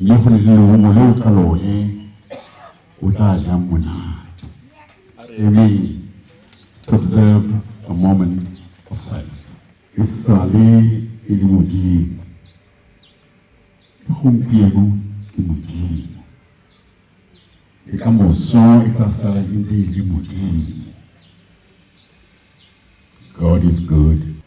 mme go le leungo leo ka lone o tla jang monate amen to observe a moment of silence e sale e le modimo gompieno ke modimo e ka moso e tla sala e ntse e le modimo god is good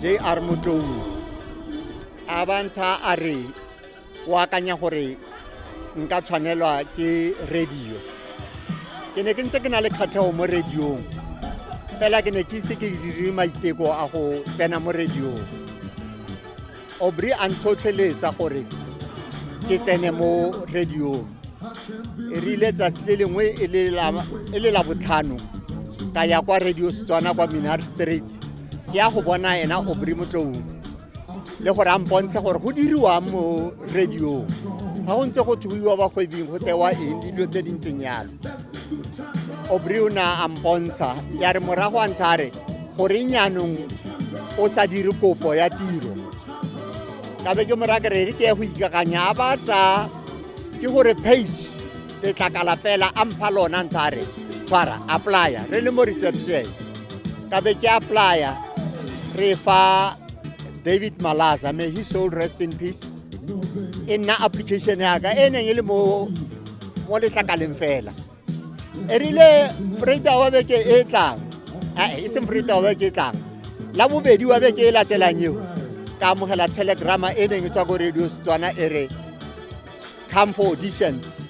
jr motlou a bantha a re o akanya gore nka tshwanelwa ke radio ke ne ke ntse ke na le kgatlhego mo radiong fela ke ne ke ise ke dire maiteko a go tsena mo radiong Aubrey a ntlhotlheletsa gore ke tsene mo radiong e rile tsatsi le lengwe e le la- e le la botlhano ka ya kwa radio setswana kwa minar street ke ya go bona ena Aubrey motloung le gore a mpontshe gore go diriwang mo radiong ga go ntse go thuiwa bagwebing go tewa eng le dilo tse di ntseng yalo obriona a mpontsha ya re morago a ntsha re gore nyanong o sa dire kopo ya tiro ka be ke mora kerere ke ya go ikakanya a ba tsa ke gore page letlakala fela a mpha lona ntsha re tshwara applya re le mo reception ka be ke applya re fa david malaza may his soul rest in peace e nna application yaka e neng e le mo mo letlakaleng fela e rile freida wa beke e tlang e seng freida wa beke e tlang la bobedi wa beke e latelang eo ka amogela telegrama e neng e tswa ko radio setswana e re come for auditions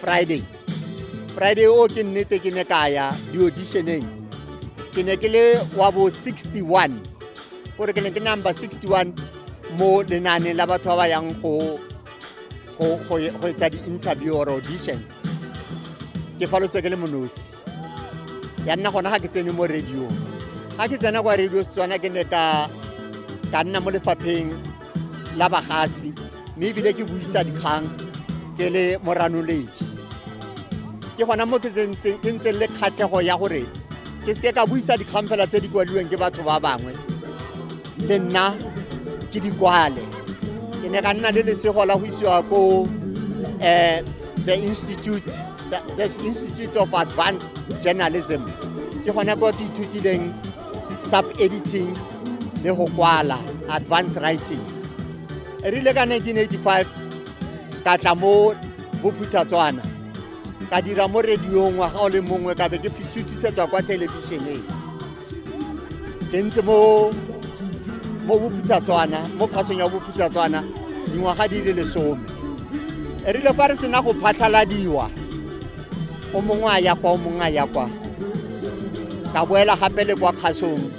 friday friday o ke nnete ke ne ka ya di-auditioneng ke ne ke le wa bo 61 gore ke ne ke number 61 mo lenaaneng la batho ba ba yang go go etsa di-interview or auditions ke falotswe ke le monosi ya nna gona ga ke tsene mo radio ga ke tsena kwa radio setswana ke ne ka nna mo lefapheng la bagasi mme ebile ke buisa dikgang ke le moranoledi ke gona mo ke ntseng le kgatlhego ya gore ke seke ka buisa dikgang fela tse di kwaliweng ke batho ba bangwe le nna ke di kwale ke ne ka nna le lesego la go isiwa ko um the institute the, the institute of advanced journalism ke gone ko ke ithutileng sub editing le go kwala advance writing e rile ka 1985 ka tla mo bophuthatswana ka dira mo radiong ngwaga o le mongwe ka be ke sutisetsa kwa thelebišeneng ke ntse mo mo bophuthatswana mo phasong ya bophuthatswana dingwaga di le lesome e rile fa re sena go phatlhaladiwa o mongwe a ya kwa o mongwe a ya kwa ka boela gape le kwa kgasong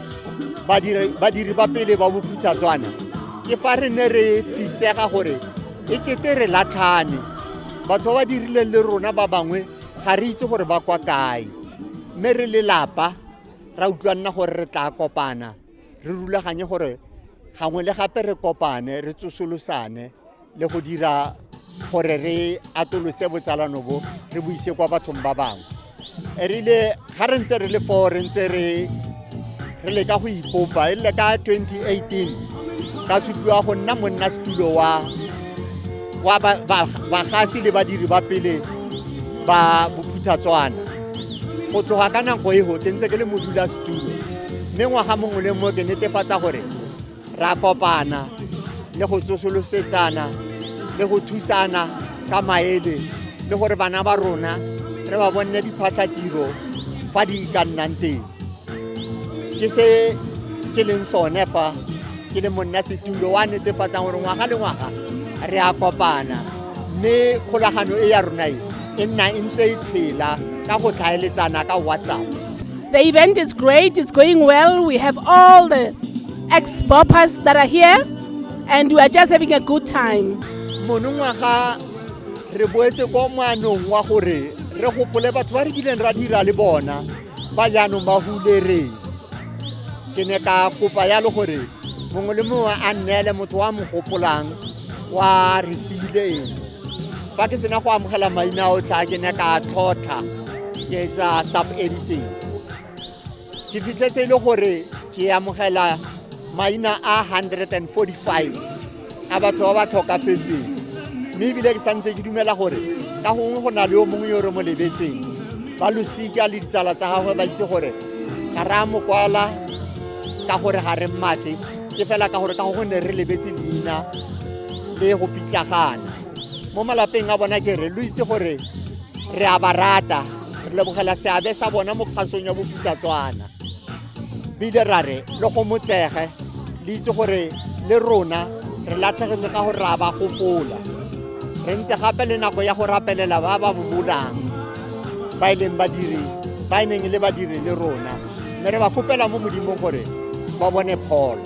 badiri ba pele ba bokhuthatswana ke fa re ne re fisega gore e kete re latlhane batho ba ba dirileng le rona ba bangwe ga re itse gore ba kwa kae mme re lelapa ra utlwa nna gore re tla kopana re rulaganye gore gangwe le gape re kopane re tsosolosane le go dira gore re atolose botsalano bo re bo ise kwa bathong ba bangwe e rile ga re ntse re le foo re ntse re re leka go ipopa e rile ka 2018 ka supiwa go nna monna setulo wa wa bagasi le badiri ba pele ba bophuthatswana go tloga ka nako e go ke ntse ke le modula setulo mme ngwaga mongwe le mongwe ke netefatsa gore ra kopana le go tsosolosetsana le go thusana ka maele le gore bana ba rona re ba bonne diphatlhatiro fa di ka nnang teng ke se ke leng sone fa ke le monna setulo wa netefatsang gore ngwaga le ngwaga re a kopana mme kgolagano e ya rona e e nna e ntse e tshela ka go tlhaeletsana ka whatsapp The event is great, it's going well. We have all the ex boppers that are here, and we are just having a good time. monongwaga re boetse kwa moanong wa gore re gopole batho ba re kileng ra dira le bona ba jaanong ba hulereng ke ne ka kopa yalo gore mongwe le mongwe a nneele motho wa mo gopolang wa re siileng fa ke sena go amogela maina otlhe a ke ne ka tlhotlha ke sa sub editing ke fitlhetse e le gore ke amogela maina a 145 a batho ba ba tlhokafetseng mme ebile ke santse ke dumela gore ka gongwe go na le yo mongwe yo re mo lebetseng ba losika le ditsala tsa gagwe ba itse gore ga re a mo kwala ka gore ga re mmatle ke fela ka gore ka go gonne re lebetse leina le go pitlagana mo malapeng a bona ke re lo itse gore re a ba rata re lebogela seabe sa bona mo kgasong ya bopitatswana bile ra re le go motsege le itse gore le rona re latlhegetse ka gore ra ba gopola re ntse gape le nako ya go rapelela ba ba bobolang ba e leng badiri ba e neng le badiri le rona mme re ba kopela mo modimong gore ba bone pholo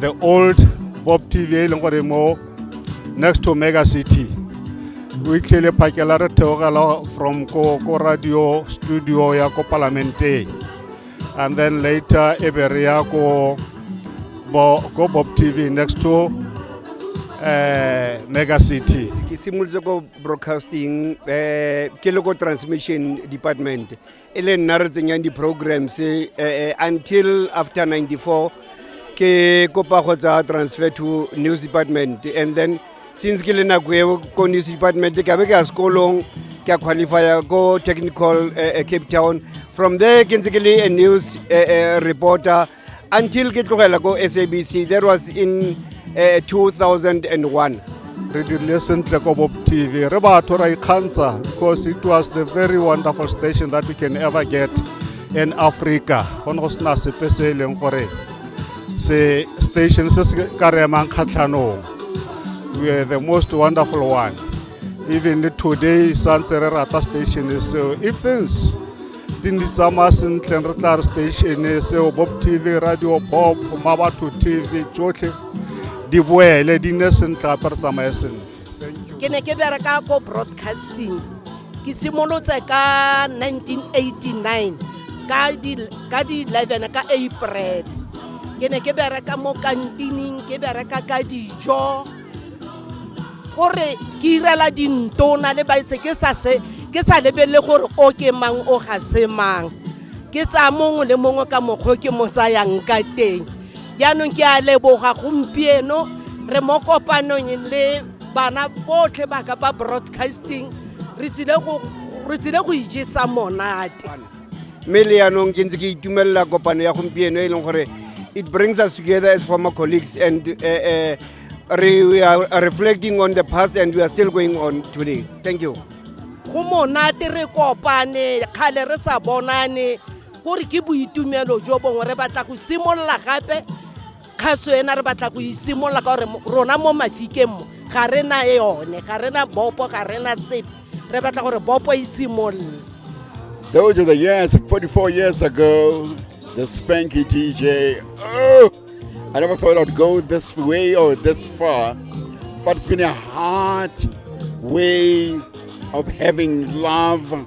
the old bob tv e leng gore mo next to mega city o itlhele phakela re theogela from ko ko radio studio ya ko palamenteng and then later e be re ya ko bo ko bob tv next to eh mega city ke simolotse ko broadcasting eh ke le ko transmission department e le nna re tsenyang di-programs eh, eh, until after 94 ke kopa go tsaya transfer to news department and then since ke le nako eo ko news department ka be ke ya sekolong ke a qualifya ko technical eh, eh, cape town from there ke ntse ke le a news eh, eh, reporter until ke tlogela ko sabc that was in uh, 2001 re dirile sentle ko bob tv re batho ra ikgantsha because it was the very wonderful station that we can ever get in africa go ne go sena sepe se e leng gore se station se se ka re emang kgatlhanong we are the most wonderful one even today santse re rata station seo if things di ndi tsamaya sentle re tla re statene seo bob tv radio bob mabatho tv tsotlhe di boele di ne sentle gape re tsamaye sentle ke ne ke bereka ko broadcasting ke simolotse ka 1989 ka di ka di 11 ka april ke ne ke bereka mo kantining ke bereka ka dijo o re ke irela dintona le baise ke sa se ke sa lebelele gore o ke mang o ga se mang ke tsaya mongwe le mongwe ka mokgwa ke mo tsayang ka teng jaanong ke a leboga gompieno re mo kopanong le bana botlhe baka ba broadcasting re tsile go ijesa monate mme le yanong ke ntse ke itumelela kopano ya gompieno e leng gore it brings us together as former colleagues and uh, uh, re, we are reflecting on the past and we are still going on today thank you go monate re kopane kgale re sa bonane kore ke boitumelo jo bongwe re batla go simolola gape kgaso ena re batla go isimolola ka gore rona mo mafikeng mo ga re na yone ga re na bopo ga re na sepe re batla gore bopo e simolole Those are the years, 44 years ago, the Spanky DJ. Oh, I never thought I'd go this way or this far, but it's been a hard way of having love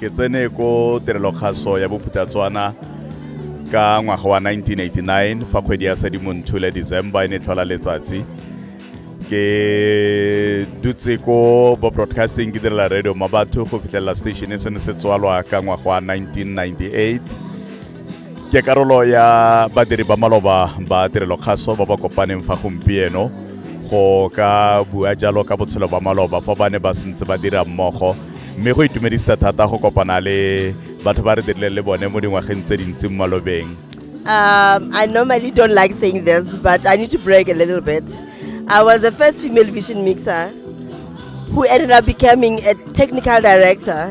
ke tsene ko tirelokgaso ya bophutatswana ka ngwaga wa 1989 fa kgwedi ya sedimonthule december e ne tlhola letsatsi ke dutse ko bo broadcasting ke direla radio ma batho go fitlhelela station e se ne se tswalwa ka ngwaga wa 1998 ke karolo ya badiri ba maloba ba tirelo kgaso ba ba kopaneng fa gompieno go ka bua jalo ka botshelo ba maloba fa ba ne ba sentse ba dira mmogo mme go itumedisa thata go kopana le batho ba re dirileng le bone mo dingwageng tse dintsi mo malobeng Um, I normally don't like saying this, but I need to brag a little bit. I was the first female vision mixer who ended up becoming a technical director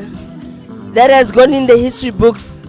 that has gone in the history books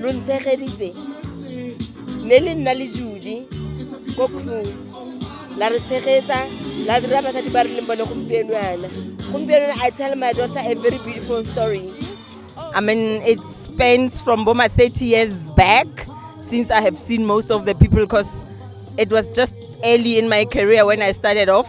lo ntshegeditse ne le nna le judi ko crew la re tshegetsa la dira basadi ba re leng bone gompieno yana gompieno i tell my daughter a very beautiful story i mean it spans from boma 30 years back since i have seen most of the people because it was just early in my career when i started off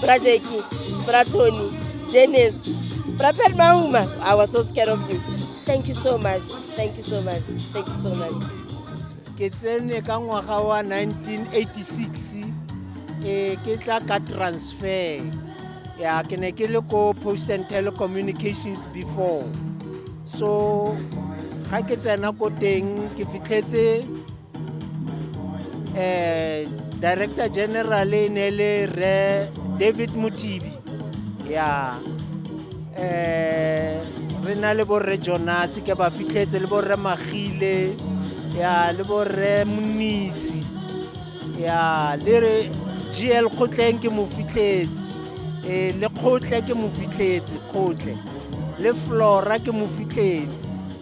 Bra Jackie, Bra Tony, Dennis, Bra Pet Mauma. I was so scared of you. Thank you so much. Thank you so much. Thank you so much. ke tsene ka ngwaga wa 1986 eh ke tla ka transfer ya ke ne ke le ko post and telecommunications before so ga ke tsena ko teng ke fitlhetse eh director general e ne le re david motibi ya eh re na le borre jonase ke ba fitlhetse le borre magile ya le borre monisi ya le re gl kgotleng ke mo fitlhetse eh, le kgotle ke mo fitlhetse kgotle le flora ke mo fitlhetse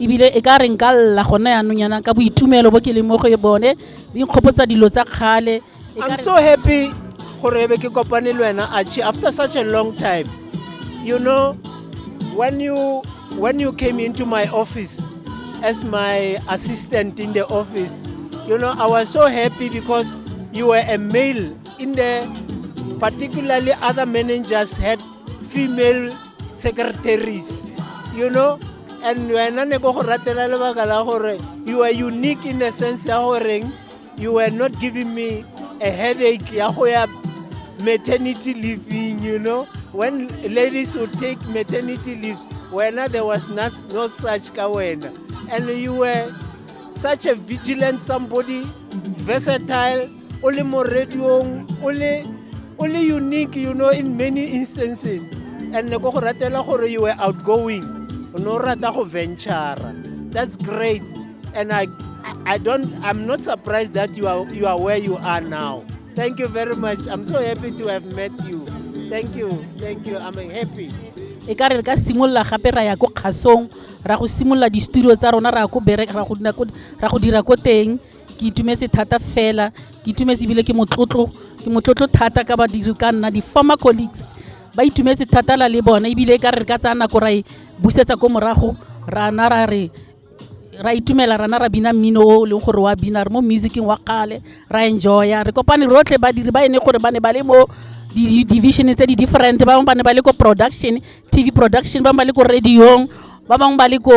ebile e ka re nka lla gone yaanong yana ka boitumelo bo ke leng mo go e bone di nkgopotsa dilo tsa kgale E ka I'm re- so happy gore ebe ke kopane le wena Archie after such a long time. You know, when you when you came into my office as my assistant in the office, you know, I was so happy because you were a male in the particularly other managers had female secretaries you know and wena ne ko go ratela lebaka la gore you are unique in a sense ya goreng you were not giving me a headache ya go ya maternity leaving you know when ladies would take maternity leaves wena there was not, no such ka wena and you were such a vigilant somebody versatile o le mo radiong o le o le unique you know in many instances and ko go ratela gore you were outgoing o ne o rata go ventura that's great and i i don't i'm not surprised that you are you are where you are now thank you very much i'm so happy to have met you thank you thank you i'm happy e ka re re ka simolola gape ra ya ko kgasong ra go simolola di-studio tsa rona ra go dira ko teng ke itumetse thata fela ke itumetse ebile ke motlotlo ke motlotlo thata ka badiri ka nna di-former colleagues ba itumetse thata la le bone ebile ka re ka tsaya nako ra e busetsa ko morago rana ra re ra itumela rana ra bina mmino o leng gore wa bina re mo musicing wa kgale ra enjoya re kopane rotlhe badiri ba ene gore ba ne ba le mo di-division tse di-different ba bangwe ba ne ba le ko production tv production ba bangwe ba le ko radiong ba bangwe ba le ko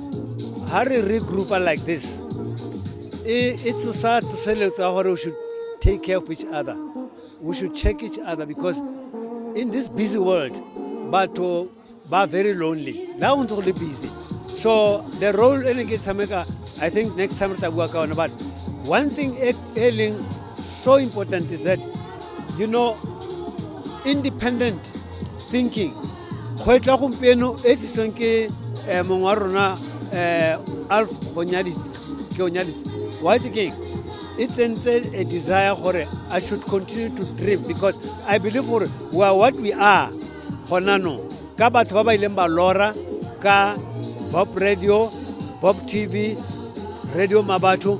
ha re regroupa like this e e tsosa tsoseletso ya gore we should take care of each other we should check each other because in this busy world batho ba very lonely la go ntse go le busy so the role e ne ke tshameka i think next time re tla bua ka one but one thing e, e leng So important is that, you know, independent thinking go etla gompieno e tlisweng ke um mongwe wa rona um alf ke onyalitse white king e tsentse a desire gore i should continue to dream because i believe gore we are what we are gona no ka batho ba ba ileng ba lora ka bob radio bob tv radio mabatho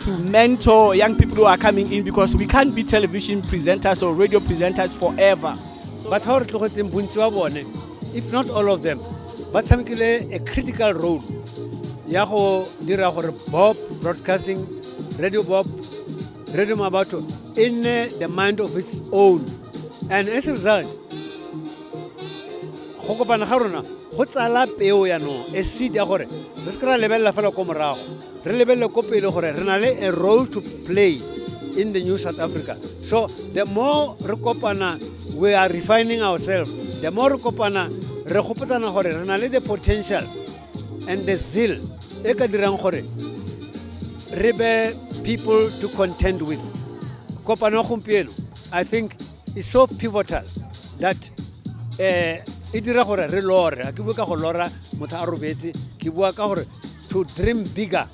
to mentor young people who are coming in because we can't be television presenters or radio presenters forever. But how if not all of them, but some a critical role. Yaho dira Bob broadcasting, Radio Bob, Radio Mabato, in the mind of its own. And as a result, go kopana ga rona go tsala peo yanong e seed ya gore re se kry-a lebelela fela ko morago re lebelele ko pele gore re na le a role to play in the new south africa so the more re kopana we are refining ourselves the more re kopana re gopotsana gore re na le the potential and the zeal e ka dirang gore re be people to contend with kopano gompieno i think is so pivotal that um e dira gore re lore a ke bue ka go lora motho a robetse ke bua ka gore to dream bigger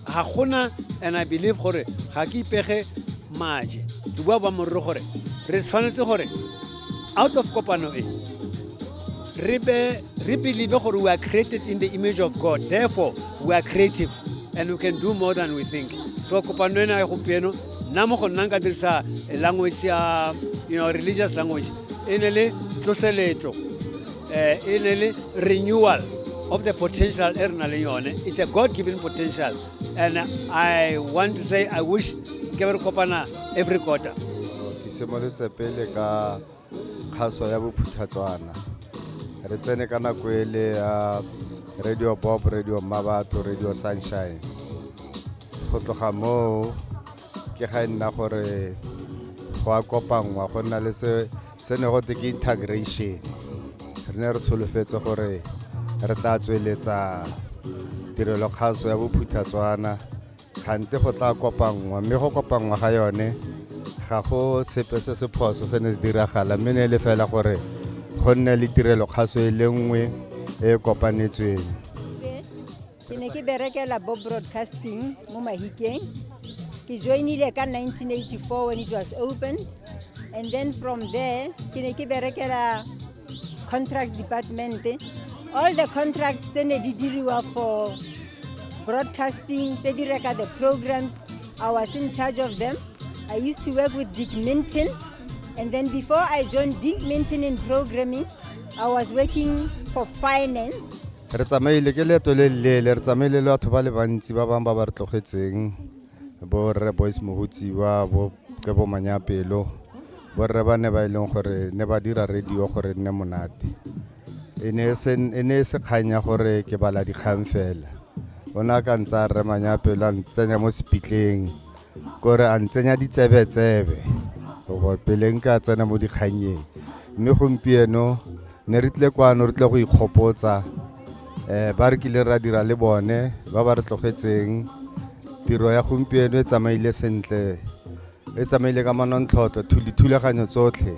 ga gona and i believe gore ga ke ipege maje ke bua ba morero gore re tshwanetse gore out of kopano e re be re believe gore we are created in the image of god therefore we are creative and we can do more than we think so kopano ena ya gompieno nna mo go nna nka dirisa language ya you know religious language e ne le tloseletso eh, e ne le renewal of the potential e re na le yone it's a god given potential and i want to say i wish ke be re kopana every quarter ke simolotse pele ka kgaso ya bophuthatswana re tsene ka nako e le ya radio bob radio mmabatho radio sunshine go tloga moo ke ga e nna gore go a kopanngwa go nna le se se ne go te ke integration re ne re solofetse gore re tla tsweletsa tirelo kgaso ya bophuthatswana gante go tla kopanngwa mme go kopanngwa ga yone ga go sepe se se phoso se ne se diragala mme ne le fela gore go nne le tirelo kgaso e le nngwe e e kopanetsweng ke ne ke berekela bo broadcasting mo mahikeng ke joinile ka 1984 when it was open and then from there ke ne ke berekela contracts department all the contracts tse ne di diriwa for broadcasting tse di reka the programs i was in charge of them i used to work with dick minton and then before i joined dick minton in programming i was working for finance re tsamaile ke leeto le leele re tsamaile le batho ba le bantsi ba bangwe ba ba re tlogetseng bo rre boys mohutsiwa bo kebo manyapelo bo rre ba ne ba e leng gore ne ba dira radio gore nne monate e ne e se e ne e se kgang ya gore ke bala dikgang fela o ne a ka ntse a rre manyapelo a ntsenya mo sepitleng kore a ntsenya ditsebetsebe gore pele nka tsena mo dikgannyeng mme gompieno ne re tlile kwano re tlile go ikgopotsa um ba re kile ra dira le bone ba ba re tlogetseng tiro ya gompieno e tsamaile sentle e tsamaile ka manontlhotlho dithulaganyo tsotlhe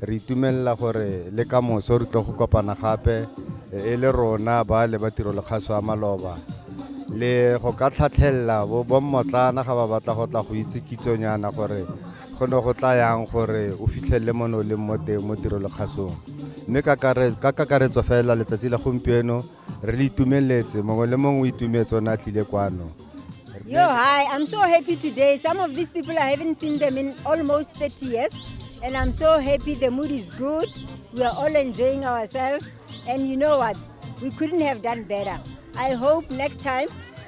re itumelela gore le ka moso re tlo go kopana gape e le rona ba le ba tiro lekgaso ya maloba le go ka tlhatlhelela bommotlana ga ba batla go tla go itse kitsonyana gore go ne go tla yang gore o fitlhelele mo ne o leng mo teng mo tirolokgasong mme ka kakaretso fela letsatsi la gompieno re le itumeletse mongwe le mongwe o itumetse one a tlile kwano Yo, hi. I'm so happy today. Some of these people, I haven't seen them in almost 30 years. And I'm so happy. The mood is good. We are all enjoying ourselves. And you know what? We couldn't have done better. I hope next time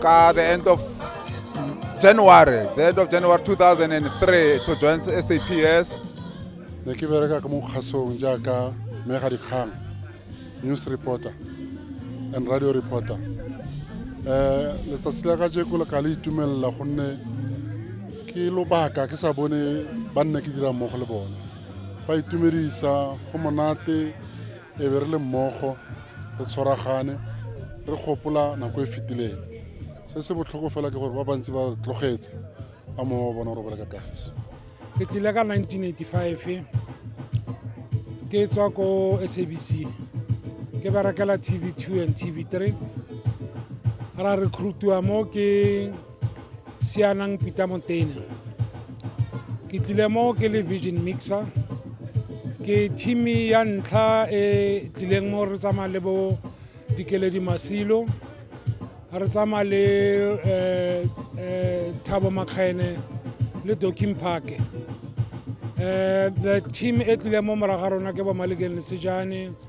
ka the end of january the end of january 2003 to join saps ne ke bereka ka mo kgasong jaaka mega dikgang news reporter and radio reporter um letsatsi la ka jeko le ka le itumelela gonne ke lobaka ke sa bone ba nna ke dira mmogo le bone ba itumedisa go monate e be re le mmogo re tshwaragane re gopola nako e fetileng se se botlhoko fela ke gore ba bantsi ba tlogetse ba mongwe wa bona o robela ka kagiso ke tlile ka 1985 ke tswa ko sabc ke berekela tv two and tv three ra recruitiwa mo ke sianang pita montena ke tlile mo ke le vision mixer ke teami ya ntlha e tlileng mo re tsamaya le bo dikeledi masilo re tsamaya le um thabo makgene le doking parke um the team e tlileng mo moraga rona ke bomalekeng lesejane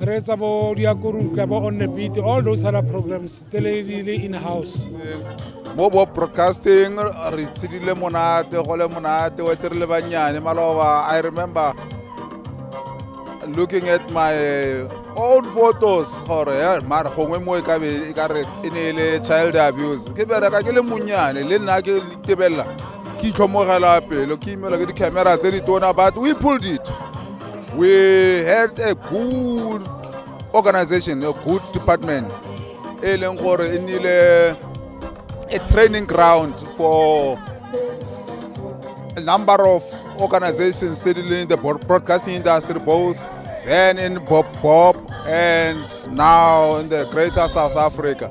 re etsa bo diakorutla bo on the beat all those other programs tse le di le in house mo bo broadcasting re tshidile monate go le monate wa tse re le bannyane maloba i remember looking at my old photos gore ya mara gongwe mo e ka be e ka re e ne e le child abuse ke bereka ke le monnyane le nna ke tebelela ke itlhomogela pelo ke imelwa ke di-camera tse di tona but we pulled it we had a good organization a good department e leng gore e nnile a training ground for a number of organizations tse di leng the broadcasting industry both then in bob bob and now in the greater south africa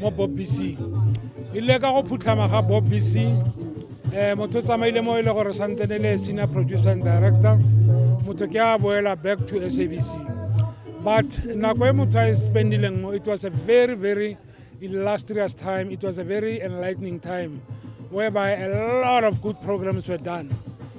mo bob b c ile ka go phutlhama ga bob b c um motho o tsamaile mo e le gore santse ne le senior producer and director motho ke a boela back to sabc but nako e motho a e spendileng mo it was a very very illustrious time it was a very enlightening time whereby a lot of good programs were done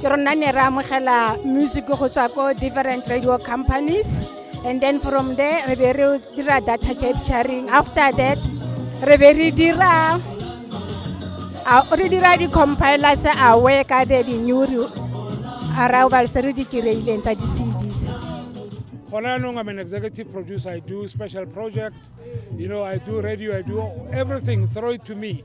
ke rona ne re amogela music go tswa ko different radio companies and then from there re be re dira data capturing after that re be re dira re dira di-compilers awe ka the di-new arrival se re di kry-ileng tsa di-cds gona anong i'm an executive producer i do special projects you know i do radio i do everything throw it to me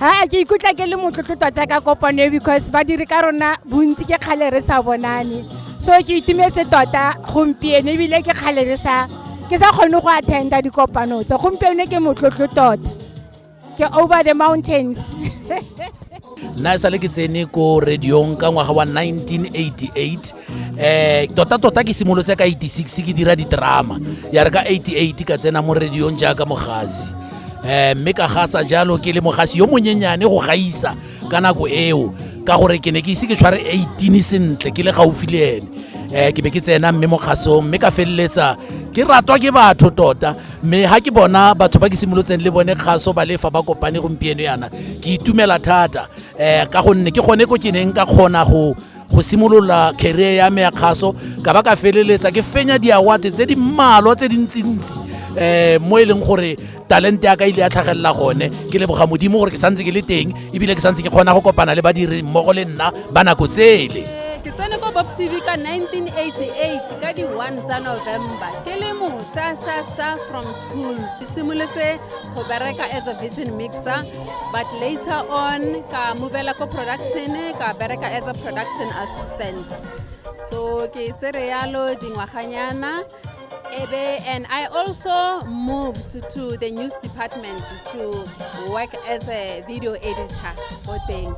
aa ke ikutlwa ke le motlotlo tota ka kopano e because badiri ka rona bontsi ke kgale re sa bonane so ke itumetse tota gompieno ebile ke kgale re sa ke sa kgone go attenda dikopano tse gompieno ke motlotlo tota ke over the mountains nna e sale ke tsene ko radiong ka ngwaga wa 1988 eh tota tota ke simolotse ka 86 ke dira ditrama ya re ka 88 ka tsena mo radiong jaaka mogasi eh mme ka gasa jalo ke le mogasi yo monyenyane go gaisa ka nako eo ka gore ke ne ke ise ke tshware 18 sentle ke le gaufi le ene eh ke be ke tsena mme mo kgasong mme ka feleletsa ke ratwa ke batho tota mme ha ke bona batho ba ke simolotseng le bone kgaso ba lefa ba kopane gompieno yana ke itumela thata eh ka gonne ke gone ko ke neng ka kgona go go simolola career ya me ya kgaso ka ba ka feleletsa ke fenya diawate tse di mmalwa tse dintsintsi um mo e leng gore talente ya ka ile ya tlhagelela gone ke leboga modimo gore ke santse ke le teng ebile ke santse ke kgona go kopana le badiri mmogo le nna ba nako tsele ke tsene ko bob tv ka 1988 ka di-1 tsa november ke le mošašaša from school ke simoletse go bereka as a vision mixer but later on ka movela ko production ka bereka as a production assistant so ke tsere yalo dingwaganyana ebe and i also moved to the news department to work as a video editor ko teng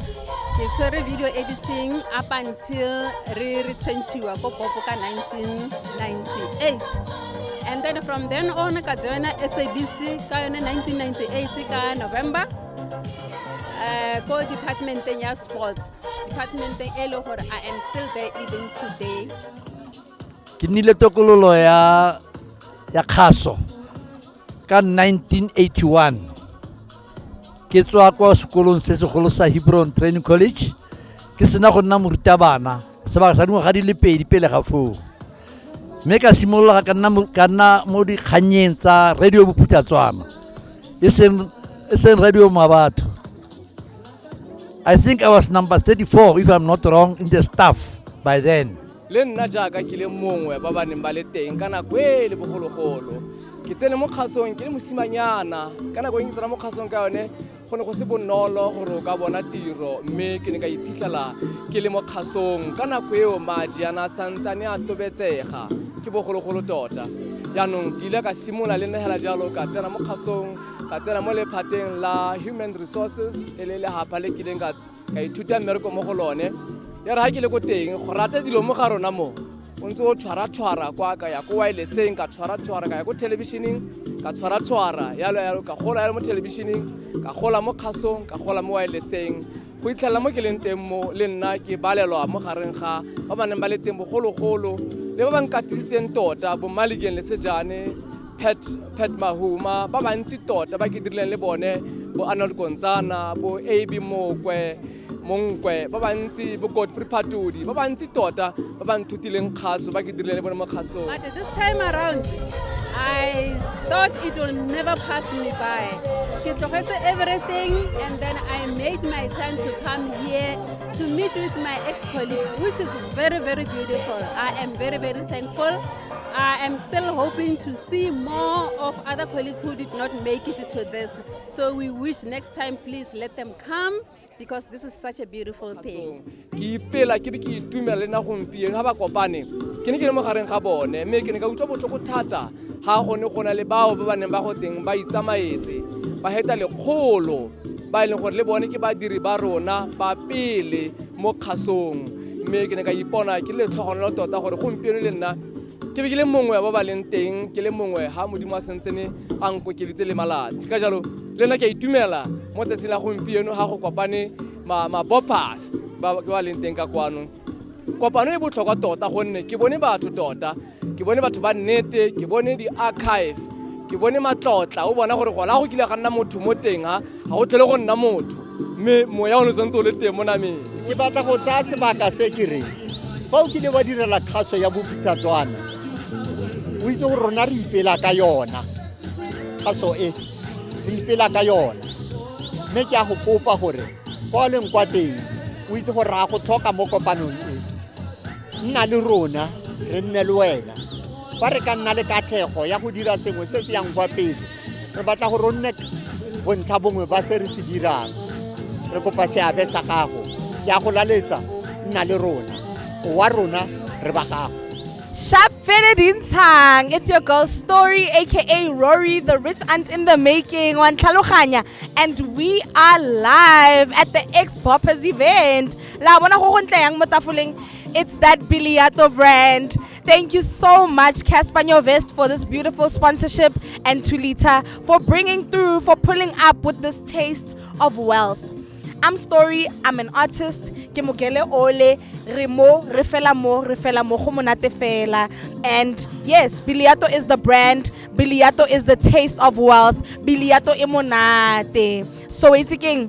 ke tshwere video editing up until re retrenchiwa ko popo ka 1998 and then from then on ka joina sabc ka yone 1998 ka november uh, ko departmenteng ya sports departmenteng e le gore i am still there even today ke nnile tokololo ya ya kgaso ka 1981 ke tswa kwa sekolong se segolo sa hebron training college ke sena go nna morutabana sebaka sa dingwaga di le pedi pele ga foo mme ka simolola ka nna mo dikgannyeng tsa radio bophuthatswana e seng radio mabatho i think i was number 34 if i'm not wrong in the staff by then le nna jaaka ke le mongwe ba ba neng ba le teng ka nako e le bogologolo ke tsene mo kgasong ke le mosimanyana ka nako e ke tsena mo kgasong ka yone go ne go se bonolo gore o ka bona tiro mme ke ne ka iphitlhela ke le mo kgasong ka nako eo madi ana a santsane a tobetsega ke bogologolo tota jaanong ke ile ka simolola le negela jalo ka tsena mo kgasong ka tsena mo lephateng la human resources e le lehapa le kileng ka ka ithuta mmereko mo go lone ya re ga ke le ko teng go rata dilo mo ga rona mo o ntse o tshwara-tshwara kwa ka ya ko wileseng ka tshwara-tshwara ka ya ko thelebišeneng ka tshwara-tshwara yalo yalo ka gola yalo mo thelebišeneng ka gola mo kgasong ka gola mo wileseng go itlhelela mo ke leng teng mo le nna ke balelwa mo gareng ga ba ba neng ba le teng bogologolo le ba ba nkatisitseng tota bomalikeng le sejane Pat, Pat Mahuma, ba bantsi tota ba ke dirileng le bone bo Arnold Kontsana, bo AB Mokwe, Monkwe, ba bantsi bo Godfrey Patodi, ba bantsi tota ba ba nthutileng kgaso ba ke dirileng le bone mo kgasong. But this time around, I thought it will never pass me by. Ke tlogetse everything and then I made my time to come here to meet with my ex-colleagues, which is very, very beautiful. I am very, very thankful. I am still hoping to see more of other colleagues who did not make it to this. So we wish next time, please let them come because this is such a beautiful thing. ke ipela ke be ke itumela le na gompieno ga ba kopane ke ne ke le mo gareng ga bone mme ke ne ka utlwa botlhoko thata ga gone go na le bao ba ba neng ba go teng ba itsamaetse ba heta lekgolo ba e leng gore le bone ke badiri ba rona ba pele mo kgasong mme ke ne ka ipona ke le tlhogonolo tota gore gompieno le nna ke be ke le mongwe ba ba leng teng ke le mongwe ga modimo a sentsene a nkokelitse le malatsi ka jalo le nna ke a itumela mo tsatsing la gompieno ga go kopane mabopas ba ba leng teng ka kwano kopano e botlhokwa tota gonne ke bone batho tota ke bone batho ba nnete ke bone di-archive ke bone matlotla o bona gore gona go kile ga nna motho mo teng ha ga go tlhele go nna motho mme moya o ne santse o le teng mo nameng ke batla go tsaya sebaka se ke reng fa o kile wa direla kgaso ya bophuthatswana o itse gore rona re ipela ka yona kgaso e re ipela ka yona mme ke a go kopa gore kwa leng kwa teng o itse gore ra go tlhoka mo kopanong e nna le rona re nne le wena fa re ka nna le katlhego ya go dira sengwe se se yang kwa pele re batla gore o nne bontlha bongwe ba se re se dirang re kopa seabe sa gago ke a go laletsa nna le rona wa rona re ba gago Sharp fitted in tang. It's your girl story, aka Rory, the rich aunt in the making, on Tlhaloganya. And we are live at the X Boppers event. la bona go go ntle yang mo tafoleng it's that biliato brand Thank you so much, Casper Vest, for this beautiful sponsorship and to Lita for bringing through, for pulling up with this taste of wealth. I'm Story, I'm an artist, ke mogele ole, re mo, re fela mo, re fela mo, go monate fela. And yes, Biliato is the brand, Biliato is the taste of wealth, Biliato e monate. So it's again,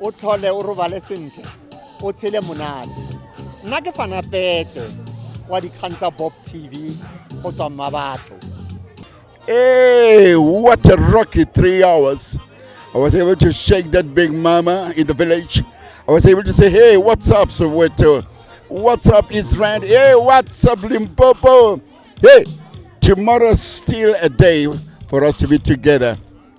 o tlhole o robale sentle o tshele monate nna ke fana pete wa dikgang tsa bob tv go tswa mma batho Hey, what a rocky three hours. I was able to shake that big mama in the village. I was able to say, hey, what's up, Soweto? What's up, Israel? Hey, what's up, Limpopo? Hey, tomorrow's still a day for us to be together.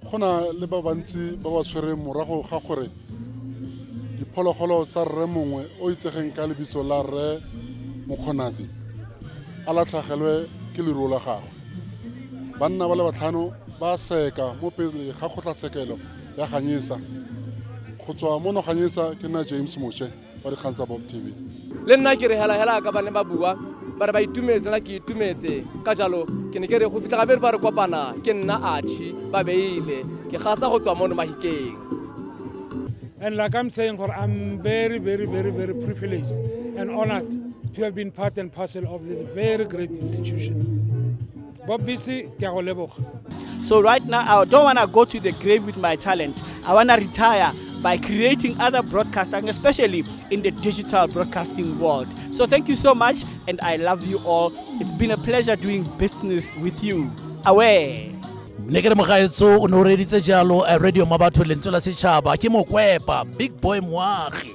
go na le ba bantsi ba ba tshwereng morago ga gore diphologolo tsa rre mongwe o itsegeng ka lebitso la rre mokgonazi a latlhagelwe ke leruo la gagwe banna ba le batlhano ba seka mo pele ga kgotlatshekelo ya ganyesa go tswa mo noganyesa ke nna james moše wa dikgang tsa bob tv le nna ke re helahela ka ba ne ba bua ba re ba itumetse nna ke itumetse ka jalo ke ne ke re go fitlha gabedi ba re kopana ke nna achi ba beile ke gasa go tswa mono mahikeng And like I'm saying, Hor, I'm very, very, very, very privileged and honored to have been part and parcel of this very great institution. Bobisi, ke a go leboga. So right now, I don't want to go to the grave with my talent. I want to retire by creating other broadcasting, especially in the digital broadcasting world. So thank you so much, and I love you all. It's been a pleasure doing business with you. Away. le ke re mogaetso o ne o reditse jalo eh, radio mabatho lentswe la setšhaba ke mokwepa big boy moagi